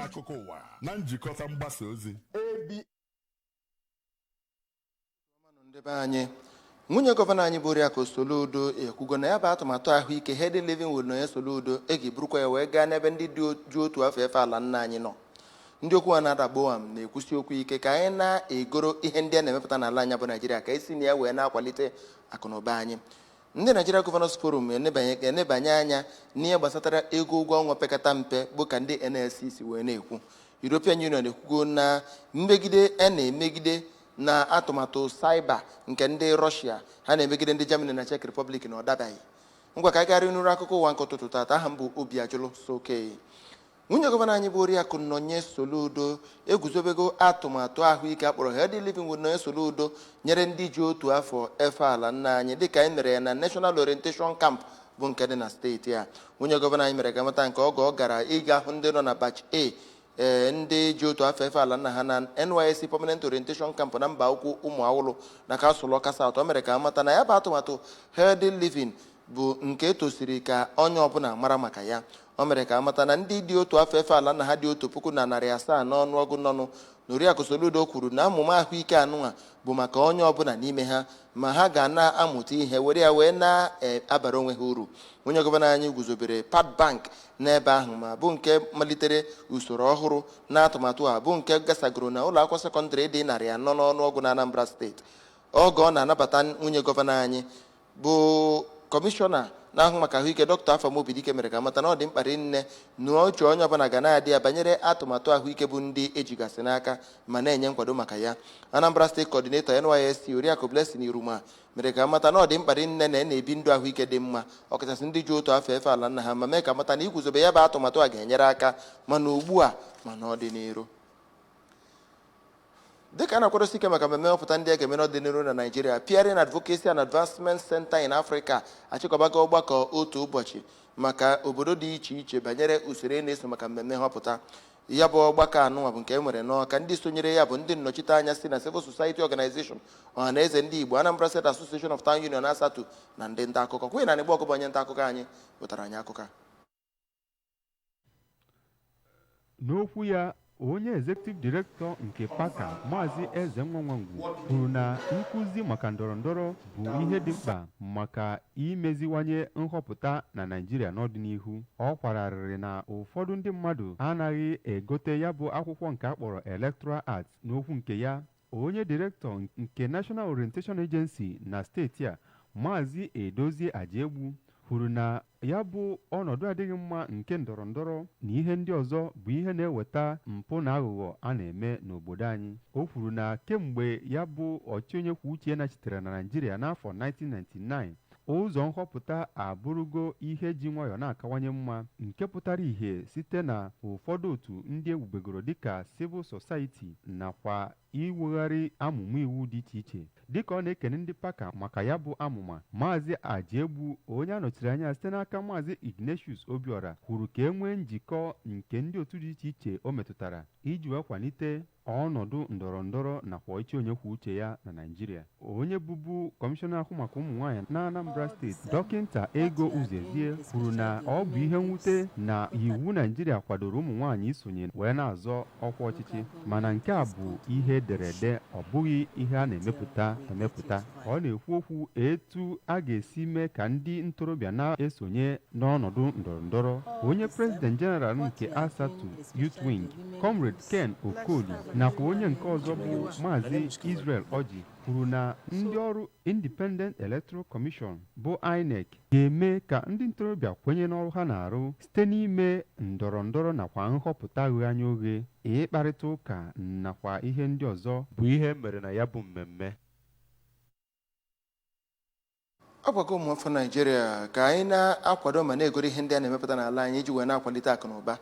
akụkọ ụwa na njikọta mgbasa ozi ndị be anyị nwunye gọvanọ anyị bụ Oriakụ Soludo ekwugo na ya bụ atụmatụ ahụike Healthy Living with Nonye Soludo e ga-eburukwa ya wee gaa n'ebe ndị dị ji otu afọ efe ala nna anyị nọ Ndị okwu ha na-ada gbowam na-ekwusi okwu ike ka anyị na-egoro ihe ndị a na-emepụta n'ala anyị bụ Naijiria ka e si na ya wee na-akwalite akụnụba anyị. Ndị Nigeria Governors Forum enebanye anya n'ihe gbasatara ego ụgwọ ọnwa pekata mpe bụ ka ndị NLC si wee na-ekwu. European Union ekwugo na mmegide a na-emegide na atụmatụ cyber nke ndị Russia ha na-emegide ndị Germany na Czech Republic na ọ dabaghị. Ngwa ka anyị garị nụrụ akụkọ ụwa nke ụtụtụ taata aha m bụ Obiajụlụ Sokei. Nwunye gọvanọ anyị bụ Oriakụ Nonye Soludo eguzobego atụmatụ ahụike a kpọrọ Healthy Living with Nonye Soludo nyere ndị ji otu afọ efe ala nna anyị dịka anyị mere ya na National Orientation Camp bụ nke dị na steeti a nwunye gọvanọ anyị mere ka a mata nke a oge ọ gara ịga hụ ndị nọ na batch A ee ndị ji otu afọ efe ala nna ha na NYSC Permanent Orientation Camp na Mbaukwu Ụmụawụlụ na kansụl Ọka South o mere ka a mata na ya bụ atụmatụ Healthy Living bụ nke e tosiri ka onye ọbụla mara maka ya o mere ka a mata na ndị ji otu afọ efe ala nna ha dị otu puku na narị asaa n'ọnụọgụ nọnụ na oriakụ Soludo kwuru na amụma ahụike anụnwa bụ maka onye ọbụla n'ime ha ma ha ga na-amụta ihe were ya wee na-abara onwe ha uru nwunye gọvanọ anyị guzobere pad bank n'ebe ahụ ma bụ nke malitere usoro ọhụrụ na atụmatụ a bụ nke gasagoro na ụlọ akwụkwọ sekọndịrị dị narị anọ n'ọnụọgụ na Anambra steeti oge ọ na-anabata nwunye gọvanọ anyị bụ kọmishọna na-ahụ maka ahụike dọkịta Afam Obidike mere ka a mata na ọ dị mkpa rinne na uche onye ọbụla ga na-adị ya banyere atụmatụ ahụike bụ ndị e jigasị n'aka ma na-enye nkwado maka ya Anambra steeti kọdinetọ NYSC Oriakụ Blessing Iruma mere ka a mata na ọ dị mkpa rinne na a na-ebi ndụ ahụike dị mma ọkachasị ndị ji otu afọ efe ala nna ha ma mee ka a mata na iguzobe ya bụ atụmatụ a ga-enyere aka ma na ugbu a ma n'ọdịnihu Dịka a na-akwadosi ike maka mmemme nhọpụta ndị a ga-eme n'ọdịnihu na Naịjirịa, Peering Advocacy and Advancement Center in Africa achịkọbago ọgbakọ otu ụbọchị maka obodo dị iche iche banyere usoro a na-eso maka mmemme nhọpụta. Ya bụ ọgbakọ anụnwa bụ nke e nwere n'Awka, ndị sonyere ya bụ ndị nnọchiteanya si na Civil Society Organization, Ọhanaeze Ndị Igbo, Anambra State Association of Town Union, ASATU na ndị nta akụkọ. Queen Anigbogu bụ onye nta akụkọ anyị wetara anyị akụkọ a. n'okwu ya onye executive director nke PAACA maazị Ezenwa Nwagwu kwuru na nkụzi maka ndọrọndọrọ bụ ihe dị mkpa maka imeziwanye nhọpụta na naijiria n'ọdịnihu ọ kwararịrị na ụfọdụ ndị mmadụ anaghị egote ya bụ akwụkwọ nke a kpọrọ electoral act n'okwu nke ya onye direktọ nke National Orientation Agency na steeti a Maazị Edozie Ajaegbu kwuru na ya bụ ọnọdụ adịghị mma nke ndọrọ ndọrọ na ihe ndị ọzọ bụ ihe na-eweta mpụ na aghụghọ a na-eme n'obodo anyị o kwuru na kemgbe ya bụ ọchịchị onye kwuo uche ya nachitere na Naịjirịa n'afọ 1999 Ụzọ nhọpụta abụrụgo ihe ji nwayọọ na-akawanye mma nke pụtara ihe site na ụfọdụ otu ndị ewubegoro dịka civil society nakwa iwegharị amụma iwu dị iche iche. Dịka ọ na-ekene ndị PAACA maka ya bụ amụma, Maazị Ajaegbu, onye a nọchiri anya site n'aka Maazị Ignatius Obiora, kwuru ka e nwee njikọ nke ndị otu dị iche iche o metụtara iji wee kwalite ọnọdụ ndọrọ ndọrọ nakwa ọchịchị onye kwuo uche ya na Naịjirịa onye bụbu kọmishọna na-ahụ maka ụmụ nwaanyị na Anambra steeti dọkịnta Ego Uzoezie kwuru na ọ bụ ihe mwute na iwu Naịjirịa kwadoro ụmụ nwaanyị isonye wee na-azọ ọkwa ọchịchị mana nke a bụ ihe e dere ede ọ bụghị ihe a na-emepụta emepụta ka ọ na-ekwu okwu etu a ga-esi mee ka ndị ntorobịa na-esonye n'ọnọdụ ndọrọ ndọrọ onye president general nke asatu youth wing comrade ken okoli nakwa onye nke ọzọ bụ maazị israel ọjị kwuru na ndị ọrụ independent electoral commission bụ inec ga-eme ka ndị ntorobịa kwenye n'ọrụ ha na-arụ site n'ime ndọrọ ndọrọ nakwa nhọpụta ghe anya oghe ịkparịta ụka nakwa ihe ndị ọzọ bụ ihe mere na ya bụ mmemme a gwago ụmụafọ naijiria ka anyị na-akwado ma na-egoro ihe ndị a na-emepụta n'ala anyị iji wee na-akwalite akụ na ụba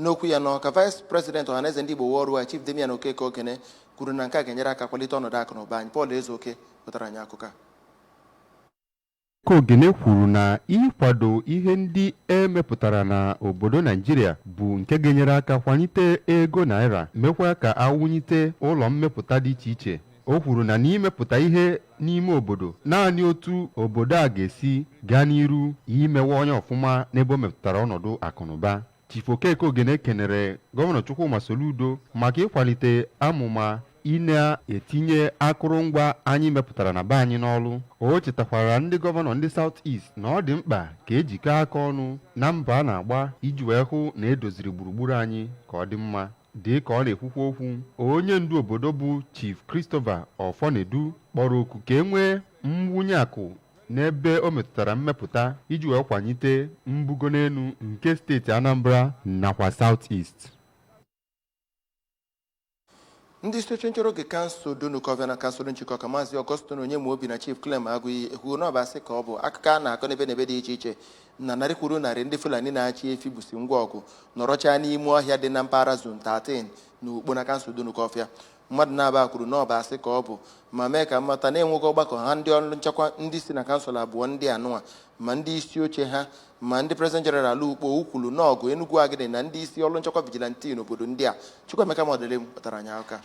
n'okwu ya n'ọka vice president ọhaneze ndị igbo worldwide chief damian okeke ogene kwuru na nke a ga-enyere aka kwalite ọnọdụ akụ na ụba anyị paul ezeoke wetara anyị akụkọ a Ka Ogene kwuru na ịkwado ihe ndị e mepụtara na obodo Naijiria bụ nke ga-enyere aka kwalite ego naira, mekwa ka a wụnyite ụlọ mmepụta dị iche iche. O kwuru na n'imepụta ihe n'ime obodo, naanị otu obodo a ga-esi gaa n'iru imewanye ọfụma n'ebe o metụtara ọnọdụ akụnụba. Chief Okeke Ogene kenere Gọvanọ Chukwuma Soludo maka ịkwalite amụma ị na-etinye akụrụngwa anyị mepụtara na be anyị n'ọrụ o chetakwara ndị gọvanọ ndị South East na ọ dị mkpa ka e jikọ aka ọnụ na mbọ a na-agba iji wee hụ na e doziri gburugburu anyị ka ọ dị mma dị ka ọ na-ekwukwa okwu onye ndu obodo bụ Chief Christopher Ọfọnedu kpọrọ oku ka e nwee mwụnye akụ n'ebe o metụtara mmepụta iji wee kwanyite mbugo n'elu nke steeti Anambra nakwa South East. ndị isi oche nchọrọ oge kansụl Dunukọfịa na kansụl Njikọka maazị Augustine Onyemaobi na chief clem agụiyi ekwuo na ọ bụ asị ka ọ bụ akụkọ a na-akọ n'ebe n'ebe dị iche iche na narị kwuru narị ndị fulani na-achị efi busi ngwa ọgụ nọrọchaa n'ime ọhịa dị na mpaghara zone 13 na ukpo na kansụl Dunukọfịa Mmadụ naabọ a kwuru na ọ bụ asị ka ọ bụ ma mee ka a mata na e nwego ọgbakọ ha ndị ọrụ nchekwa ndị si na kansụl abụọ ndị anụnwa ma ndị isi oche ha ma ndị president jeneral Ukpo Ukwulu Nawgu Enugwu Agidi na ndị isi ọrụ nchekwa vigilanti n'obodo ndị a Chukwuemeka Modilim kpọtara anyị aka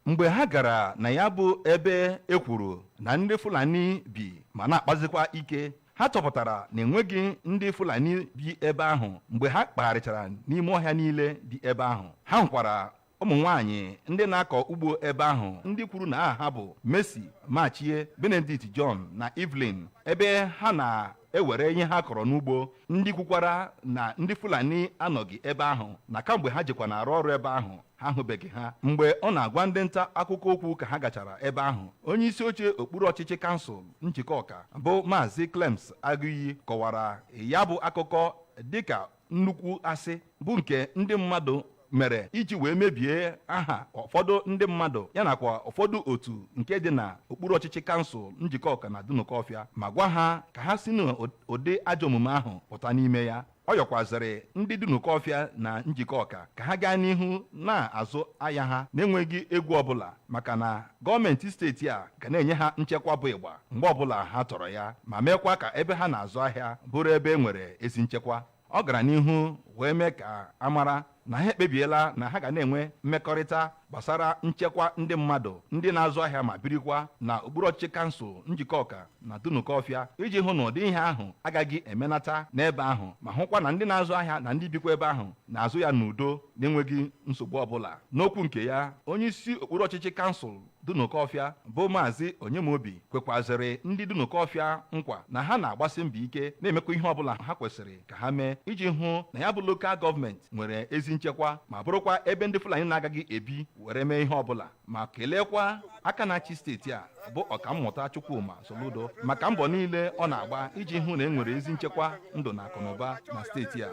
mgbe ha gara na ya bụ ebe e kwuru na ndị Fulani bi ma na-akpazikwa ike ha chọpụtara na enweghị ndị fulani bi ebe ahụ mgbe ha kpagharịchara n'ime ọhịa niile dị ebe ahụ ha hụkwara ụmụ nwaanyị ndị na-akọ ugbo ebe ahụ ndị kwuru na aha ha bụ Mercy Machie Benedict John na Evelyn ebe ha na-ewere ihe ha kọrọ n'ugbo ndị kwukwara na ndị fulani anọghị ebe ahụ na kamgbe ha jekwa na-arụ ọrụ ebe ahụ ha ahụbeghị ha mgbe ọ na-agwa ndị nta akụkọ okwu ka ha gachara ebe ahụ onye isi oche okpuru ọchịchị kansụl Njikọka bụ maazị Clems Agụiyi kọwara ya bụ akụkọ dịka nnukwu asị bụ nke ndị mmadụ mere iji wee mebie aha ụfọdụ ndị mmadụ ya nakwa ụfọdụ otu nke dị na okpuru ọchịchị kansụl Njikọka na Dunukọfịa ma gwa ha ka ha si n'ụdị ajọ omume ahụ pụta n'ime ya ọ yọkwazịrị ndị Dunukọfịa na Njikọka ka ha gaa n'ihu na-azụ ahịa ha na-enweghị egwu ọbụla maka na gọọmenti steeti a ga na-enye ha nchekwa bụ ịgba mgbe ọbụla ha chọrọ ya ma meekwa ka ebe ha na-azụ ahịa bụrụ ebe e nwere ezi nchekwa ọ gara n'ihu wee mee ka a mara na ha ekpebiela na ha ga na-enwe mmekọrịta gbasara nchekwa ndị mmadụ ndị na-azụ ahịa ma birikwa na okpuru ọchịchị kansụl Njikọka na Dunukọfịa iji hụ na ụdị ihe ahụ agaghị emenata n'ebe ahụ ma hụkwa na ndị na-azụ ahịa na ndị bikwa ebe ahụ na-azụ ya n'udo na-enweghị nsogbu ọbụla n'okwu nke ya onye isi okpuru ọchịchị kansụl Dunukọfịa bụ Maazị Onyemobi kwekwazịrị ndị Dunukọfịa nkwa na ha na-agbasi mbọ ike na-emekwa ihe ọbụla ha kwesịrị ka ha mee iji hụ na ya bụ lokal gọọmenti nwere ezi nchekwa ma bụrụkwa ebe ndị Fulani na-agaghị ebi were mee ihe ọbụla ma keleekwa aka na-achị steeti a bụ ọkammụta Chukwuma Soludo maka mbọ niile ọ na-agba iji hụ na e nwere ezi nchekwa ndụ na akụnụba na steeti a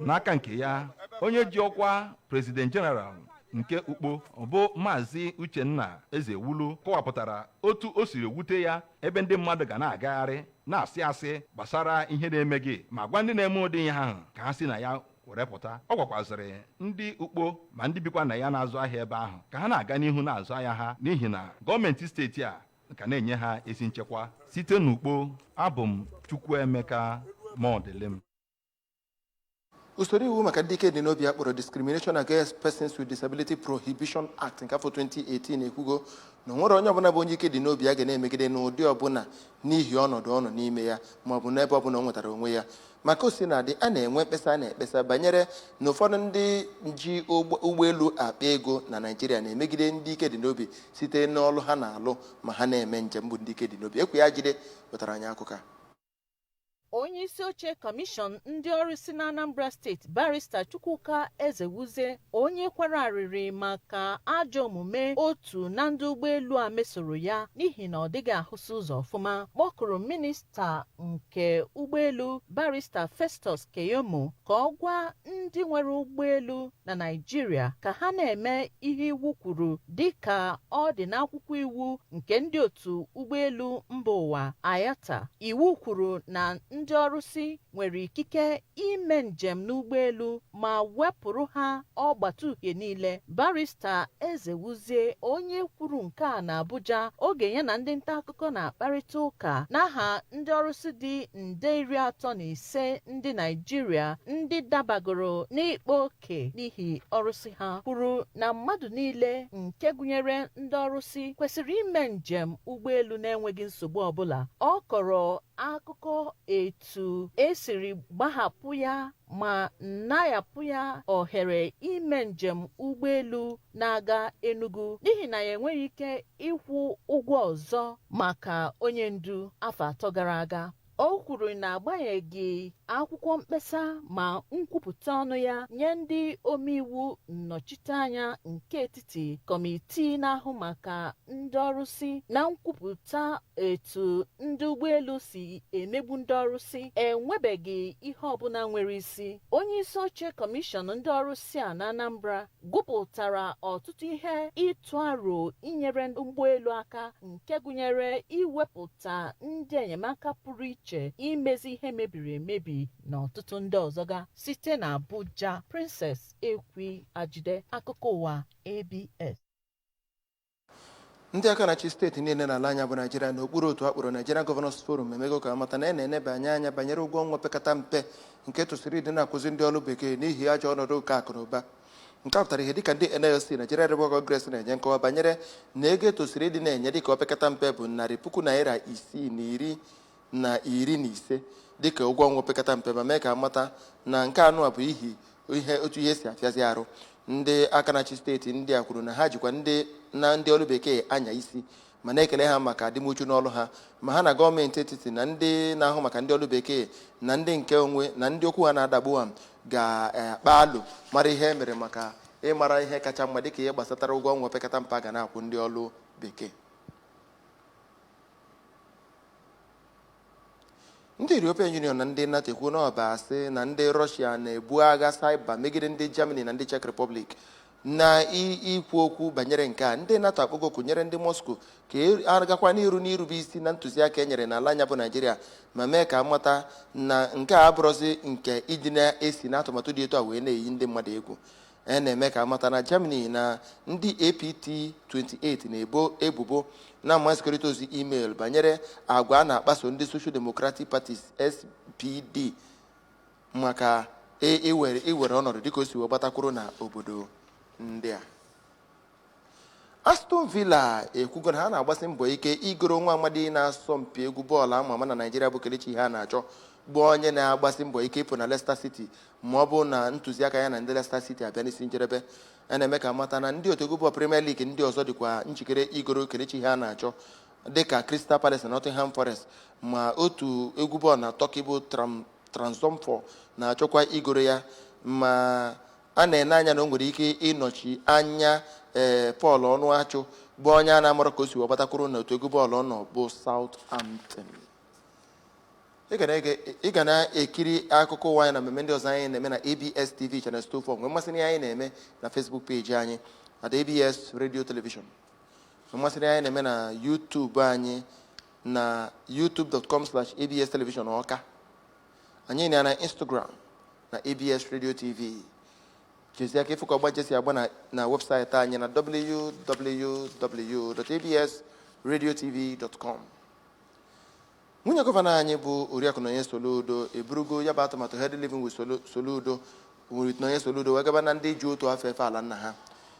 n'aka nke ya onye ji ọkwa President General nke Ukpo bụ maazị Uchenna Ezewulu kọwapụtara otu o siri wute ya ebe ndị mmadụ ga na-agagharị na-asị asị gbasara ihe na-emeghị ma gwa ndị na-eme ụdị ihe ahụ ka ha si na ya were pụta ọ gwakwazịrị ndị Ukpo ma ndị bikwa na ya na-azụ ahịa ebe ahụ ka ha na-aga n'ihu na-azụ ahịa ha n'ihi na gọọmenti steeti a ka na-enye ha ezi nchekwa site n'Ukpo abụ m Chukwuemeka Modilim usoro iwu maka ndị ike dị n'obi a kpọrọ discrimination against persons with disability prohibition act nke afọ 2018 ekwugo na o nwerọ onye ọbụla bụ onye ike dị n'obi a ga na-emegide n'ụdị ọbụla n'ihi ọnọdụ ọ nọ n'ime ya ma ọ bụ n'ebe ọbụla o nwetara onwe ya ma ka o sina dị a na-enwe mkpesa a na-ekpesa banyere na ụfọdụ ndị ji ụgbọelu akpa ego na naijiria na-emegide ndị ike dị n'obi site n'ọlụ ha na-alụ ma ha na-eme njem bụ ndị ike dị n'obi ekwi ajide wetara anyị akụkọ a onye isi oche kọmishọn ndị ọrụsị na anambra steeti barista chukwuka ezewuzie onye kwara arịrị maka ajọ omume otu na ndị ụgbọelu a mesoro ya n'ihi na ọ dịghị ahụsị ụzọ ọfụma kpọkuru minista nke ụgbọelu barista festus keyamo ka ọ gwa ndị nwere ụgbọelu na Naịjirịa ka ha na-eme ihe iwu kwuru dịka ọ dị n'akwụkwọ iwu nke ndị otu ụgbọelu mba ụwa IATA. Iwu kwuru na ndị ọrụsị nwere ikike ime njem n'ụgbọelu ma wepụrụ ha ọgbatauhie niile. Barista Ezewuzie onye kwuru nke a n'Abuja oge ya na ndị nta akụkọ na-akparịta ụka n'aha ndị ọrụsị dị nde iri atọ na ise ndị Naịjirịa ndị dabagoro n'ịkpa oke n'ihi ọrụsị ha kwuru na mmadụ niile nke gụnyere ndị ọrụsị kwesịrị ime njem ụgbọelu na-enweghị nsogbu ọbụla ọ kọrọ akụkọ etu e siri gbahapụ ya ma nayapụ ya ohere ime njem ụgbọelu na-aga Enugu n'ihi na ya enweghị ike ịkwụ ụgwọ ọzọ maka onye ndu afọ atọ gara aga o kwuru na agbanyeghị akwụkwọ mkpesa ma nkwupụta ọnụ ya nye ndị omeiwu nnọchiteanya nke etiti kọmitii na-ahụ maka ndị ọrụsị na nkwupụta etu ndị ụgbọelu si emegbu ndị ọrụsị enwebeghị ihe ọbụla nwere isi onye isi oche kọmishọn ndị ọrụsị a na anambra gụpụtara ọtụtụ ihe ịtụ aro inyere ụgbọelu aka nke gụnyere iwepụta ndị enyemaka pụrụ iche imezi ihe mebiri emebi na ọtụtụ ndị ọzọga site na abuja princess ekwi ajide akụkọ ụwa abs ndị aka na-achị steeti niile n'ala anyị a bụ naijiria n'okpuru otu a kpọrọ Nigeria Governors Forum emego ka a mata na a na-enebanye anya banyere ụgwọ ọnwa opekata mpe nke e tosiri ịdị na-akwụzi ndị ọrụ bekee n'ihi ajọ ọnọdụ nke akụ na ụba nke a pụtara ihe dịka ndị NLC Nigeria Labour Congress na-enye nkọwa banyere na ego e tosiri ịdị na-enye dịka opekata mpe bụ narị puku naira isii na iri na iri na ise dịka ụgwọ ọnwa opekata mpe ma mee ka amata na nke anụwa bụ ihi otu ihe si afịazi arụ ndị aka na-achị steeti ndị a kwuru na ha jikwa ndị ọlụ bekee anya isi ma na-ekele ha maka adịmuchu n'ọlụ ha ma ha na gọọmenti etiti na ndị na-ahụ maka ndị ọlụ bekee na ndị nke onwe na ndị okwu ha na-adagbu ha ga-akpa alo mara ihe e mere maka ịmara ihe kacha mma dịka ihe gbasatara ụgwọ ọnwa opekata mpe a ga na-akwụ ndị ọlụ bekee ndị European Union na ndị NATO ekwuo na ọ bụ asị na ndị Russia na-ebu agha cyber megide ndị Germany na ndị Czech Republic na ikwu okwu banyere nke a ndị NATO akpọgo oku nyere ndị Moscow ka a gakwa n'iru n'irube isi na ntụziaka e nyere n'ala anyị a bụ Naijiria ma mee ka amata na nke a abụrụzi nke ndị na-esi n'atụmatụ dị etu a wee na-eyi ndị mmadụ egwu a na-eme ka amata na Germany na ndị APT 28 na-ebo ebubo na mmasịkọrịta ozi email banyere agwa a na-akpaso ndị Social Democratic Parties SPD maka iwere ọnọdụ dịka o si wee gbatakwuru na obodo ndị a Aston Villa ekwugo na ha na-agbasi mbọ ike igoro nwa amadi na-asọ mpi egwu bọọlụ ama ama na Naịjirịa bụ Kelechi Iheanacho bụ onye na-agbasi mbọ ike ịpụ na Leicester City ma ọ bụrụ na ntụziaka ya na ndị Leicester City abịa n'isi njedebe a na-eme ka amata na ndị otu egwu bọọlụ Premier League ndị ọzọ dịkwa njikere igoro Kelechi Iheanacho dịka Crystal Palace na Nottingham Forest ma otu egwu bọọlụ na Turkey bụ Trabzonspor na-achọkwa igoro ya ma a na-ene anya na o nwere ike ịnọchi anya Paul Ọnụachụ bụ onye a na-amarọ ka o si wee gbatakwuru na otu egwu bọọlụ ọ nọ bụ Southampton ị ga na-ekiri akụkọ ụwa anyị na mmemme ndị ọzọ anyị na-eme na ABS TV Channel 24 nwee mmasị na ihe anyị na-eme na Facebook peji anyị at ABS Radio Television nwee mmasị na ihe anyị na-eme na YouTube anyị na youtube.com/abs television ọka anyị nọ na Instagram na ABS Radio TV chezie aka ịfụ ka ọgba nche si agba na webụsaịtị anyị na www.absradiotv.com nwunye gọvanọ anyị bụ Oriakụ Nonye Soludo eburugo ya bụ atụmatụ Healthy Living with Soludo Nonye Soludo wee gaba na ndị ji otu afọ efe ala nna ha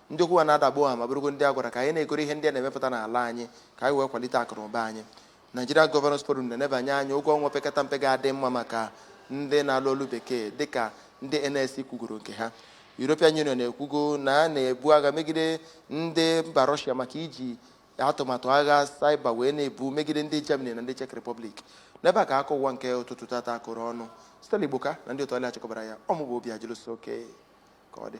ndị okwu ha na-adagbu ha ma bụrụgo ndị a gwara ka anyị na-egoro ihe ndị a na-emepụta n'ala anyị ka anyị wee kwalite akụ na ụba anyị Nigeria Governors Forum na-enebanye anya ụgwọ ọnwa opekata mpe ga-adị mma maka ndị na-alụ ọlụ bekee dịka ndị NLC kwugoro nke ha. European Union ekwugo na a na-ebu agha megide ndị mba Russia maka iji atụmatụ agha cyber wee na-ebu megide ndị Germany na ndị Czech Republic. N'ebe a ka akụkọ ụwa nke ụtụtụ tata kụrụ ọnụ. Stella Igboka na ndị otu ọlụ ya chịkọbara ya ọ mụ bụ Obiajụlụ so oke ka ọ dị.